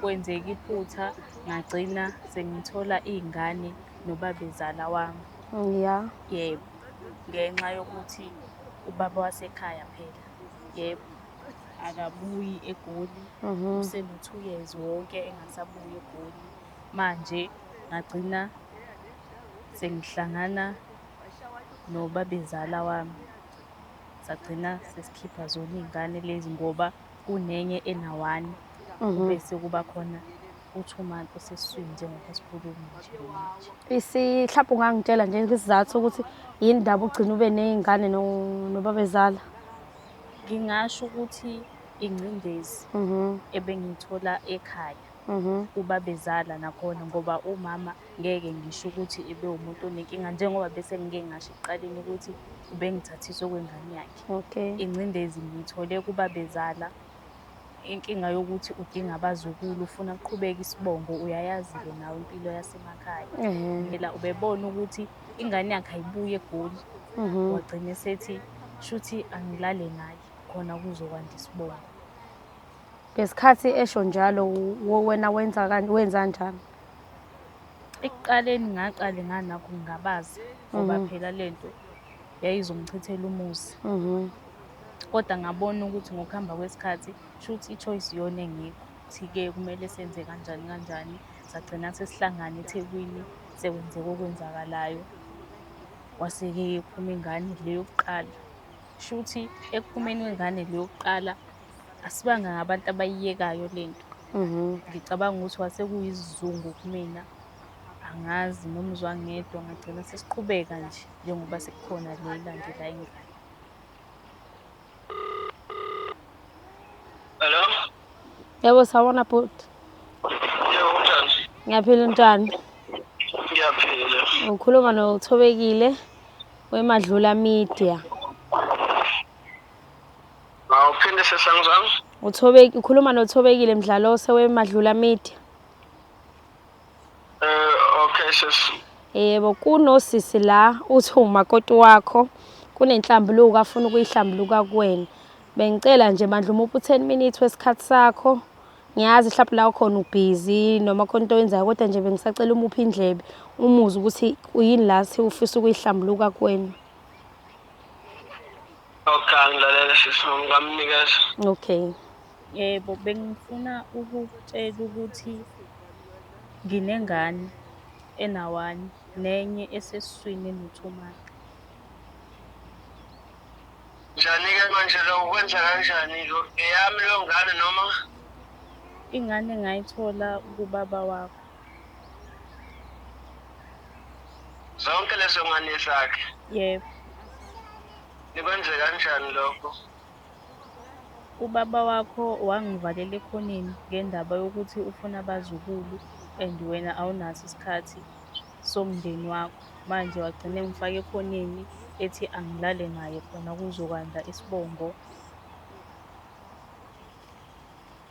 Kwenzeka iphutha ngagcina sengithola iy'ngane nobabezala wami. Ya. Yebo. Ngenxa yokuthi ubaba wasekhaya phela. Yebo. Akabuyi eGoli. Useno-two years wonke engasabuyi eGoli. Manje ngagcina sengihlangana nobabezala wami. Sagcina sesikhipha zona iy'ngane lezi ngoba kunenye enawani Mhm. kube sekuba khona u-two month usesiswini njengoba sikhuluma nje manje Isi mhlawumbe ungangitshela nje isizathu ukuthi yini ndaba ugcina ube nezingane no- nobabezala. ngingasho ukuthi ingcindezi Mhm. ebengiyithola ekhaya Mhm. kubabezala nakhona ngoba umama Ngeke ngisho ukuthi ebewumuntu onenkinga njengoba bese ngike ngasho ekuqaleni ukuthi ubengithathisa okwengane yakhe. Okay. Ingcindezi ngiyithole kubabezala inkinga yokuthi udinga abazukulu ufuna kuqhubeka isibongo uyayazi-ke nawe impilo yasemakhaya. Phela ubebona ukuthi ingane yakhe ayibuye egoli. Mhm. Wagcina esethi shuthi angilale naye khona kuzokwanda isibongo. Ngesikhathi esho njalo wena wenza kanjani? ekuqaleni ngaqale nganakho ngingabaza ngoba mhm. phela le nto yayizongichithela umuzi mhm. kodwa ngabona ukuthi ngokuhamba kwesikhathi shuthi i-choice iyona engikho ukuthi-ke kumele senze kanjani kanjani sagcina sesihlangane ethekwini sekwenzeka okwenzakalayo kwase-ke iphuma ingane le yokuqala shuthi ekuphumeni kwengane le yokuqala asibanga ngabantu abayiyekayo le nto Mhm. ngicabanga ukuthi wase kuyisizungu kumina angazi noma uzwa ngedwa ngagcina sesiqhubeka nje njengoba sekukhona le ilandela ingane Hello? Yebo sawona bhuti. Yebo kunjani? Ngiyaphila untwana. Ngiyaphila. Ukhuluma nothobekile wemadlula media. Awuphinde sesangizwami. Uthobeki ukhuluma noThobekile Mdlalose weMadlula Media. Eh okay sis. Yebo kunosisi la uthi umakoti wakho kunenhlambuluko afuna ukuyihlambuluka kuwena. Bengicela nje bandla uma uphu 10 minutes wesikhathi sakho. Ngiyazi mhlawumbe la ukhona ubhizi noma khona into oyenzayo kodwa nje bengisacela umuphi indlebe umuzi ukuthi uyini la si ufisa ukuyihlambuluka kuwena. Okay, angilalele sisi wami ngamnikeza. Okay. Yebo, bengifuna ukukutshela ukuthi nginengane enawani nenye esesiswini eno-two months. Njani-ke manje lo ukwenza kanjani lo eyami leyo ngane noma Ingane ngayithola kubaba wakho. zonke lezo ngane zakhe yebo nikwenze kanjani lokho ubaba wakho wangivalela ekhoneni ngendaba yokuthi ufuna abazukulu and wena awunaso isikhathi somndeni wakho manje wagcina engifaka ekhoneni ethi angilale naye khona kuzokwanda isibongo